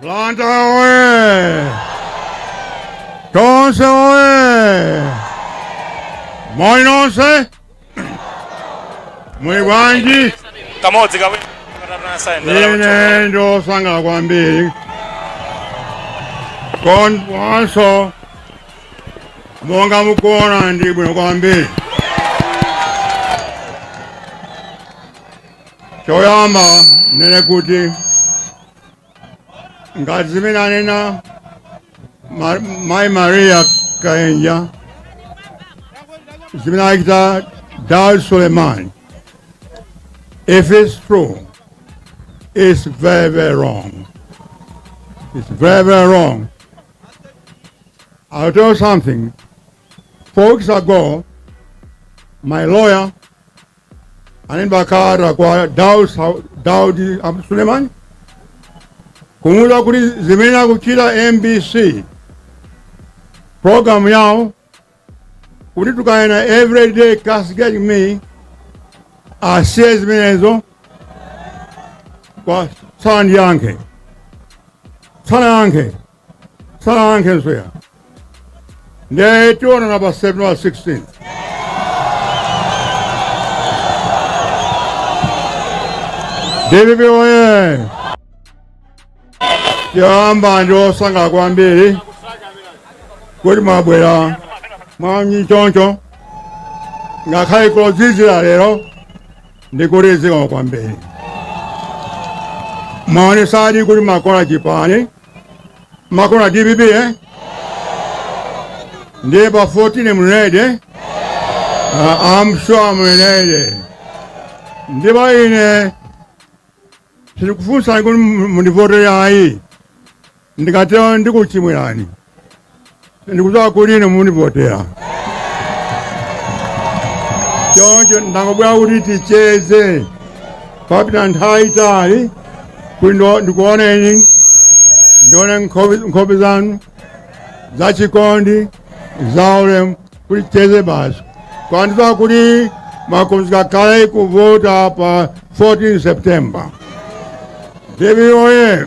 Blantyre oye! Tonse oye! Moni nonse! Muli bwanji? kamodzi kawiri Ine ndosangala kwambiri komanso monga mukuona ndi bwino kwambiri choyamba ninene kuti ngati zimene anena Ma- mayi maria kaenja zimene achita dar suleiman if it's true it's very very wrong it's very very wrong i'll tell you something four weeks ago my lawyer ane bakata kwa Daud Daud Abdul Suleiman kumuuza kuti zimene akuchita MBC program yao kuti tukwana everyday castigate me asiye zimenezo kwa sanayankhe sanayankhe sanayankhe nswera ndiye tionana pa september 16 dpp oye choyamba ndine osangala kwambiri kuti mwabwera mwaunyinji choncho ngakhale modzidzira lero ndikuti zikomo kwambiri mwaonetsadi kuti mumakonda chipani mumakonda dpp eh? ndiye pa 14 muinenedi eh? Ah, I'm sure muinenedi ndipo ine sindikufunsani kuti mundivotere ayi ndikatero ndikuchimwirani ndikudziwa kuti ine mundivotera choncho ndangobwera kuti ticheze papita nthawi yaitali kuti ndo- ndikuoneni ndione nkhope nkhope zanu zachikondi zaulemu kuti ticheze basi koma ndidziwa kuti mwakonzeka kale kuvota pa 14 september dpp oye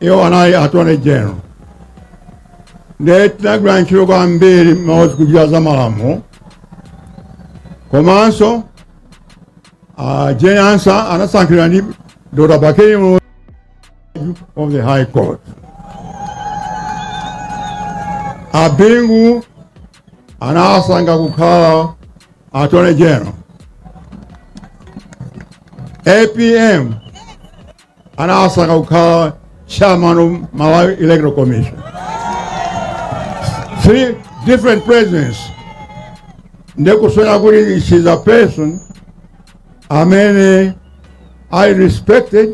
iwo anali attorney general ndiye tinagwira ntchito kwambiri mmadziwa kuchita za malamulo komanso uh, jane ansah anasankhidwa ndi dr bakili muluzi of the high court abingu anawasankha kukhala attorney general apm anawasankha kukhala chairman of malawi electoral commission three different presidents ndiye kusonyeza kuti she's a person amene ali respected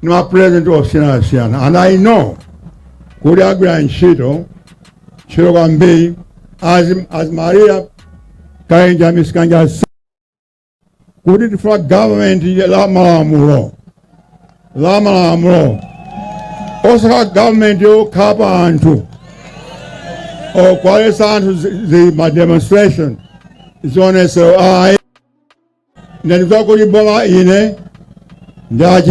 ni ma president osiyanasiyana and i know kuti agwira ntchito ntchito kwambiri as, as maria kainja mrs kainja kuti tifuna government la malamulo la malamulo osakhala government yokhapa anthu okuwaletsa anthu zi- zi- ma demonstration zionesero ayi ndiye akuti bola ine ndachi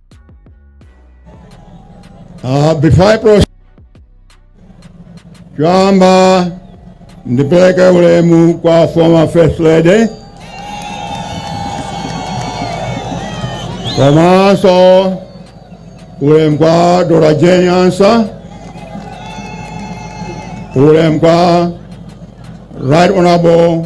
Uh, before I proceed, choyamba ndipeleke ulemu kwa former first lady komanso ulemu kwa Doctor Jane Ansah ulemu kwa Right Honorable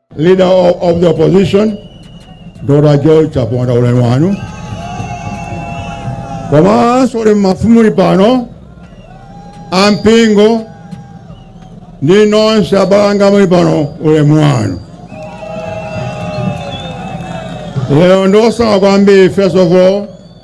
Leader of, of the opposition, Doctor George Chaponda ulemu wanu. Komanso ulemu mafumu ali pano ampingo ndi nonse abale anga muli pano ulemu wanu lero ndosangalala kwambiri first of all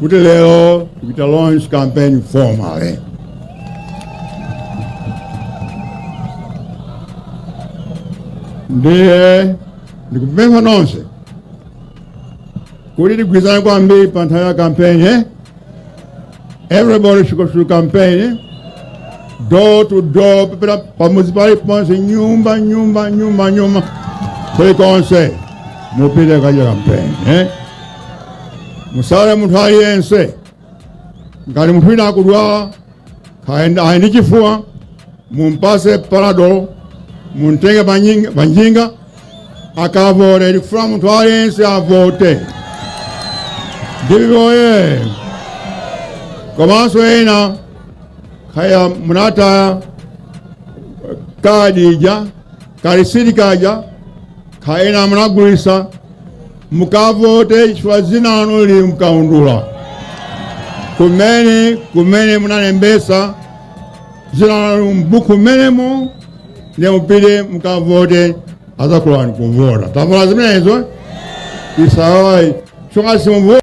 kuti lero tikuchita launch campaign formally ndiye ndikupempha nonse kuti tigwirizane kwambiri pa nthawi ya campaign eh? everybody should go through campaign eh? door to door kupita pamudzi pali ponse nyumba nyumba nyumba nyumba kulikonse mupite kukachita campaign eh? musaiwale munthu aliyense ngati munthu wina akudwala kaya ali ndi chifuwa mumpase panadol mumtenge pa nying- pa njinga akavote tikufuna munthu aliyense avote dpp woye komanso ena kaya munataya kadi ija kalisiti kaja kaya ena munagulisa mukavote chifukwa dzina lanu lili mkaundula kumene kumene munalembesa dzina lanu mbuku mmenemo ndiye mupite mukavote azakulolani kuvota tamvana zimenezo isawayi chifukwa simuvota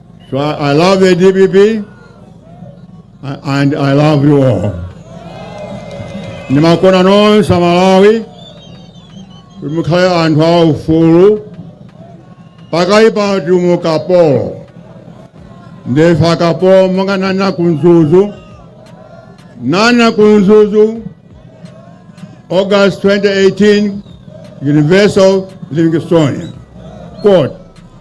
So I, I love the DPP and I love you all. Ndimakukondani nonse Amalawi kuti mukhale anthu a ufulu pakali pano tili mu ukapolo ndife akapolo monga ndinanena ku Mzuzu ndinanena ku Mzuzu August 2018 University of Livingstonia kuti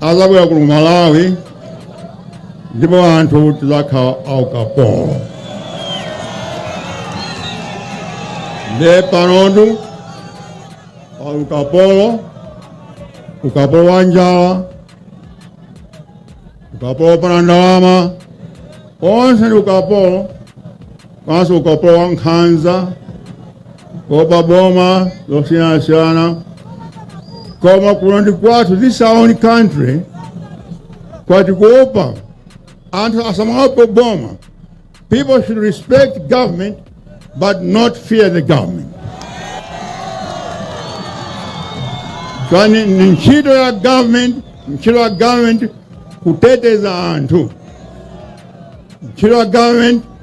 azabwerera ku malawi ndipo anthu tizakhala aukapolo nde pano ndi pa ukapolo ukapolo wa njala ukapolo wopanda ndalama onse ndi ukapolo komanso ukapolo wa nkhanza kuopa boma zosiyanasiyana koma kuno ndi kwathu this is our own country osati kuopa anthu asamaope boma people should respect government but not fear the government koma ni ntchito ya government ntchito ya government kuteteza anthu ntchito ya government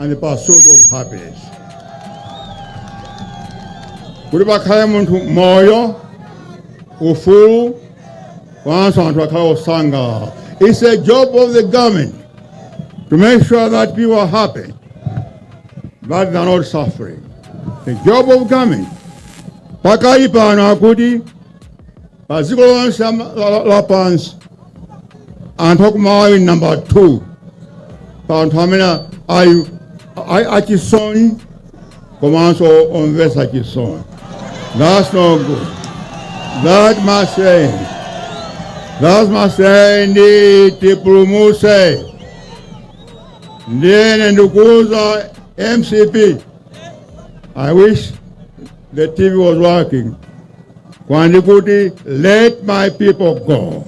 and the pursuit of happiness kuti pakhale munthu moyo ufulu komanso anthu akhale osangalala it's a job of the government to make sure that people are happy that they are not suffering the job of government pakali pano akuti pa dziko lonse la- la- la- lapansi anthu akumalawi ndi namba 2 pa anthu amene ali ali achisoni komanso omvetsa chisoni that's no good that must end that must end tipulumuse ndiye ine ndikuuza mcp i wish the tv was working pano ndikuti let my people go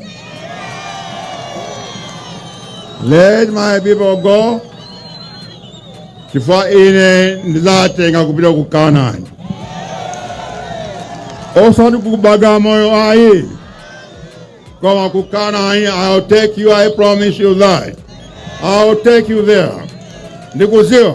let my people go chifukwa ine ndizatenga kupita ku kanani osati ku Bagamoyo ayi koma ku kanani i'll take you i promise you that i'll take you there ndikuziwa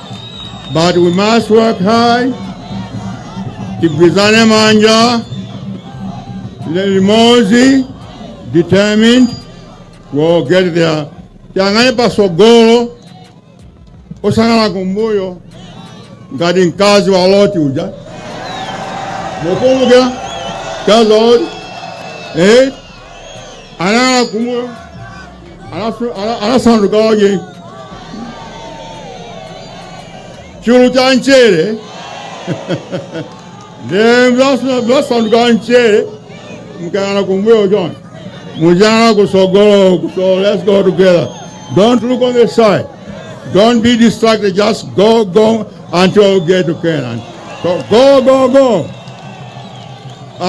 But we must work hard, tigwizane manja, tili limodzi, determined, we'll get there. Tiyang'ane pasogolo, osayang'ana kumbuyo, ngati mkazi wa Loti uja. Mukukumbuka mkazi wa Loti? Eh? Anayang'ana kumbuyo. anasanduka wake chulu cha mchere nde mzasanduka wa mchere mkayana kumbuyo chonse mujana kusogolo so let's go together don't look on the side don't be distracted just go go until you get to canaan so go go go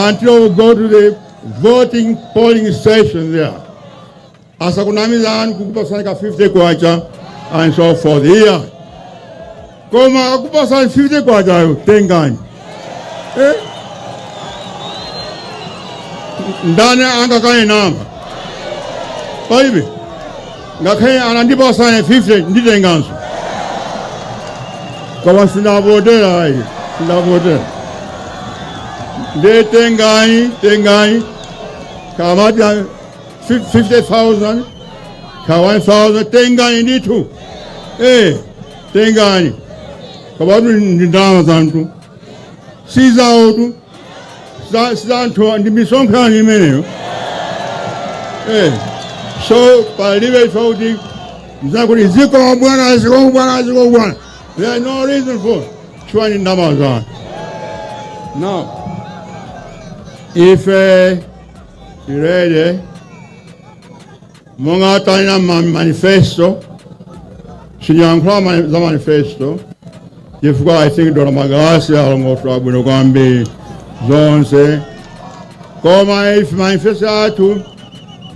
until you go to the voting polling station there asakunamizani kukupasani ka 50 kwacha and so forth iya koma akupasani 50 kwachayo tengani eh? ndani angakainama paibe ngakhale anandipasa ine 50 nditenganso koma sindavotera ayi sindavotera nde tengani tengani kama 50000 ka 1000 tengani ndithu eh tengani komatu ndi ndalama za anthu si zawotu za za anthu ndi misonkho imeneyo eh so palibe ife kuti zakuti zikomo bwana zikomo bwana zikomo bwana there is no reason for chifukwa ndi ndalama za anthu now ife tirere monga tanena ma manifesto sindiyankhula ma- za manifesto chifukwa i think dona magalasi alongosola bwino kwambiri zonse koma ife manifesto athu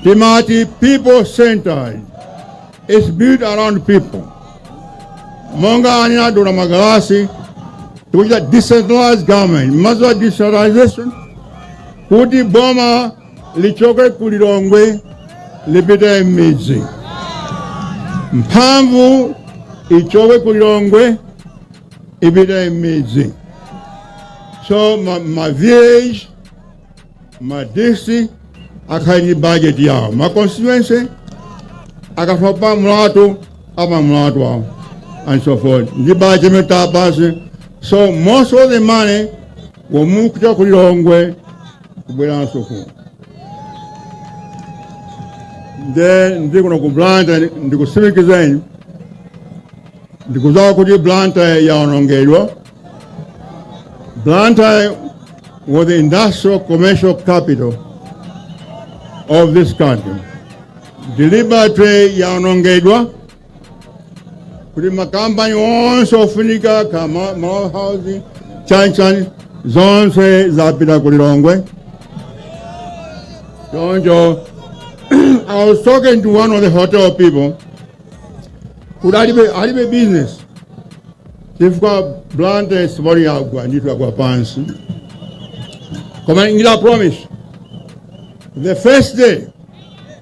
timati people centered is built around people monga anena dona magalasi tikuchita decentralized government mudziwa decentralization kuti boma lichoke ku Lilongwe lipite m'midzi, mphamvu ichoke ku Lilongwe ipite m'midzi. So ma, ma village ma district akhale ndi budget yawo, ma constituency akafuna pa mlatho apa mlatho wawo and so forth ndi budget imene tapasi so most of the money will move from ku Lilongwe kubweranso ku nde ndili kuno ku blantyre ndikutsimikizireni ndikudziwa kuti blantyre yaonongedwa blantyre was the industrial commercial capital of this country deliberately yaonongedwa kuti makampani onse ofunika ka Ma- malawi housing chanchan zonse zapita ku lilongwe choncho i was talking to one of the hotel people kuti alibe alibe business chifukwa blantyre simply yagwa ndithu yagwa pansi koma ndikulonjeza promise the first day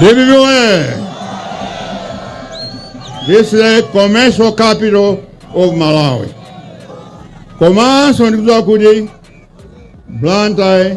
DPP oye! This is the commercial capital of Malawi. Komanso ndikudziwa kuti Blantyre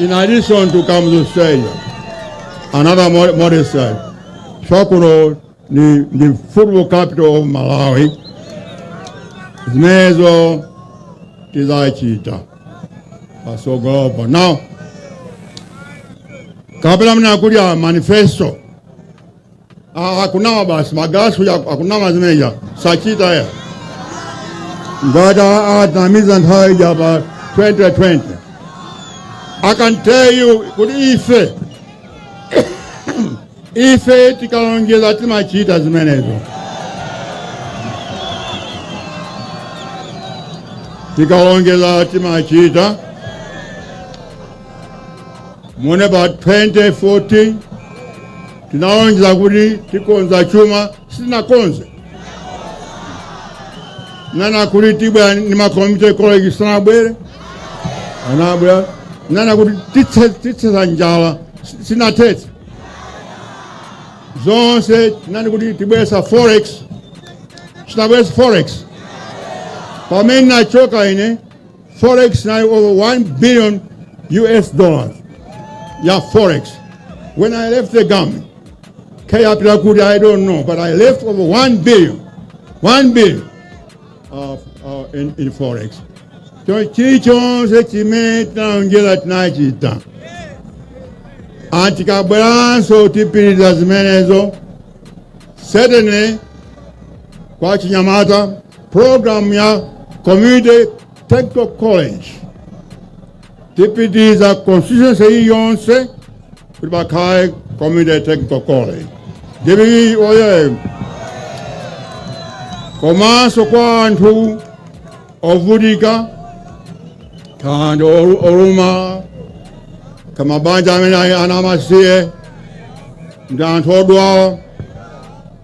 In addition to Kamuzu Stadium, another mod- modern stadium, Thyolo, the, the football capital of Malawi, zimenezo tizachita patsogolopo now kapena mnakuuzani manifesto Ah, akunama basi magalasi uja akunama zimeja sachita ayi ngati atinamiza nthawi ija pa 2020 i can tell you kuti ife ife tikalonjeza timachita zimenezo tikalonjeza timachita Mu about 2014 tinalonjeza kuti tikonza chuma, sitinakonze. Tinanena kuti tibwera ndi ma community college sanabwere, anabwera. Tinanena kuti tithe- tithetsa njala, si- sinathetse. Zonse tinanena kuti tibweretsa forex, sinabweretse forex. Pamene nachoka ine Forex inali over 1 billion US dollars ya forex. When I left the government, kaya yapita kuti, I don't know, but I left over 1 billion, 1 billion of, uh, in, in forex. So chilichonse chimene tinalonjeza tinachita and tikabweranso tipitiriza zimenezo certainly kwa achinyamata Program ya Community Technical College tipititsa constituency iliyonse kuti pakhale Community Technical College. DPP oye! Komanso kwa anthu ovutika ndi olu- olumala mabanja amene ali ana amasiye ndi anthu odwala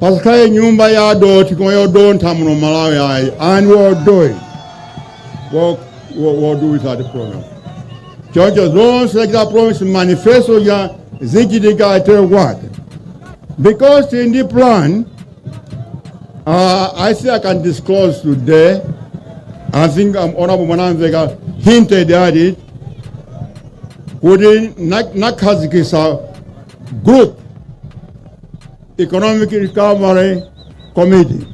pasakhale nyumba ya dothi komanso yodontha muno malawi ayi and we are doing we'll, we'll, we'll do with that program choncho zonse takita promise manifesto yazachitika atero kwake because tili ndi plan uh, i say i can disclose today i think um, honorable mwanamveka hinted at it kuti na- nakhazikisa group Economic Recovery Committee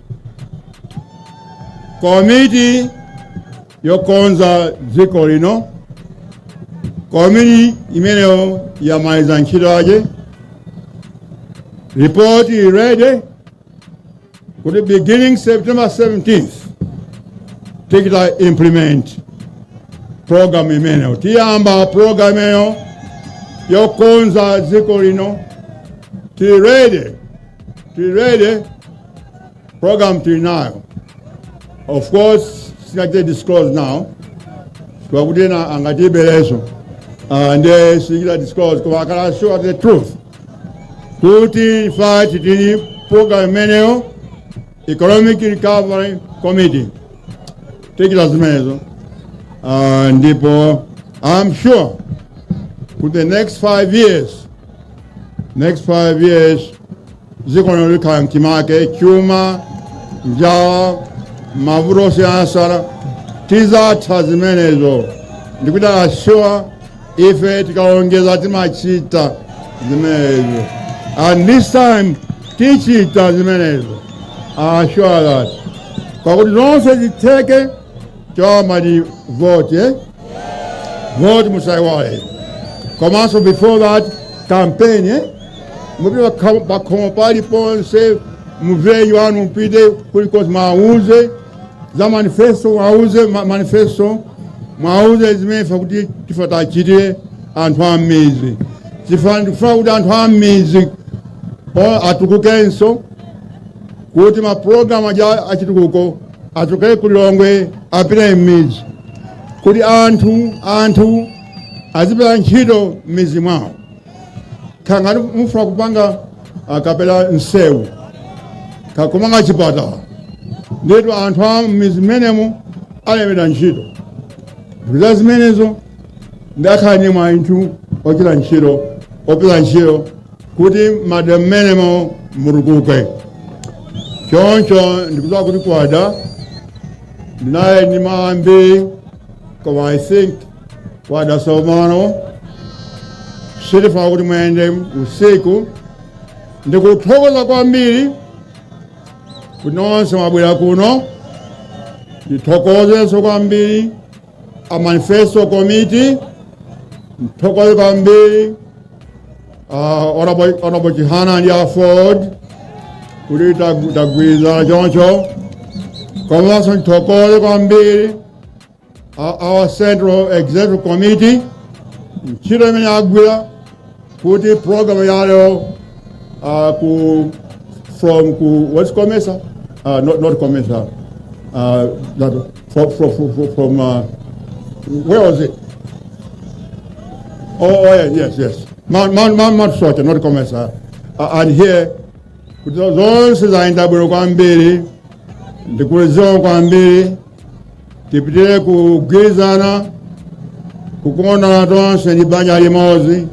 komiti yokonza dziko lino komiti imeneyi yamaliza ntchito yake ripoti ready kuti beginning September 17th tichita implement program imeneyo tiyamba program imeneyo yokonza dziko lino tili ready tili ready program tili nayo of course sitingachite disclose now chifukwa choti ena angatiberenso uh, nde sitingachite disclose koma I can assure the truth kuti ife tili ndi program imeneyo economic recovery committee tichita zimenezo uh, ndipo i'm sure kuti the next five years next five years dziko lino likhala mchimake chuma njala mavuto osiyanasiyana tidzatha zimenezo ndikukuchitani assure ife tikalonjeza timachita zimenezo and this time tichita zimenezo I assure that pakuti zonse zitheke choyamba ndi vote eh? vote musaiwale komanso before that campaign eh? mupite pakhomo paliponse muwauze anthu mupite kulikonse muwauze za manifesto muwauze ma- manifesto muwauze zimene tifuna kuti tifuna tiwachitire anthu a m'mizi chifukwa ndikufuna kuti anthu a m'mizi o- atukukenso kuti mapulogalamu aja achitukuko achokere ku lilongwe apite m'mizi kuti anthu anthu azipeza ntchito m'mizi mwawo kaya ngati mufuna kupanga ah, kapena msewu kaya kumanga chipatala nditu anthu a m'mizi mmenemo alembedwa ntchito ndikuuzani zimenezo ndiye akhala ndi mwayi anthu ochita ntchito opeza ntchito kuti madera mmenemo mutukuke choncho ndikudziwa kuti kwada ndinali ndi mawu ambiri koma i think kwada tsopano sindifuna kuti muyende usiku ndikuthokoza kwambiri kuti nonse mwabwera kuno ndithokozenso kwambiri a manifesto committee ndithokoze kwambiri uh, honorable honorable chihana ndi aford kuti tag- tagwirizana choncho komanso ndithokoze kwambiri uh, our Central Executive Committee, ntchito imene agwira kuti program yaleyo uh, ku from ku what's comesa uh, not, not comesa uh, that, from, from, from, from uh, where was it oh, oh yes yes yes Mount, Mount, Mount, Mount Soche not comesa uh, and here kuti zonse zayenda bwino kwambiri ndikudziwa kwambiri tipitire kugwirizana kukondana tonse ndi banja limodzi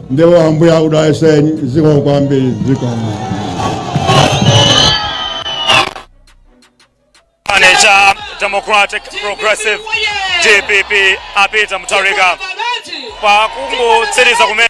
ndipo ambuye akudalitseni zikomo kwambiri zikomo chipani cha democratic progressive dpp apita mutharika pakungotsiriza kumene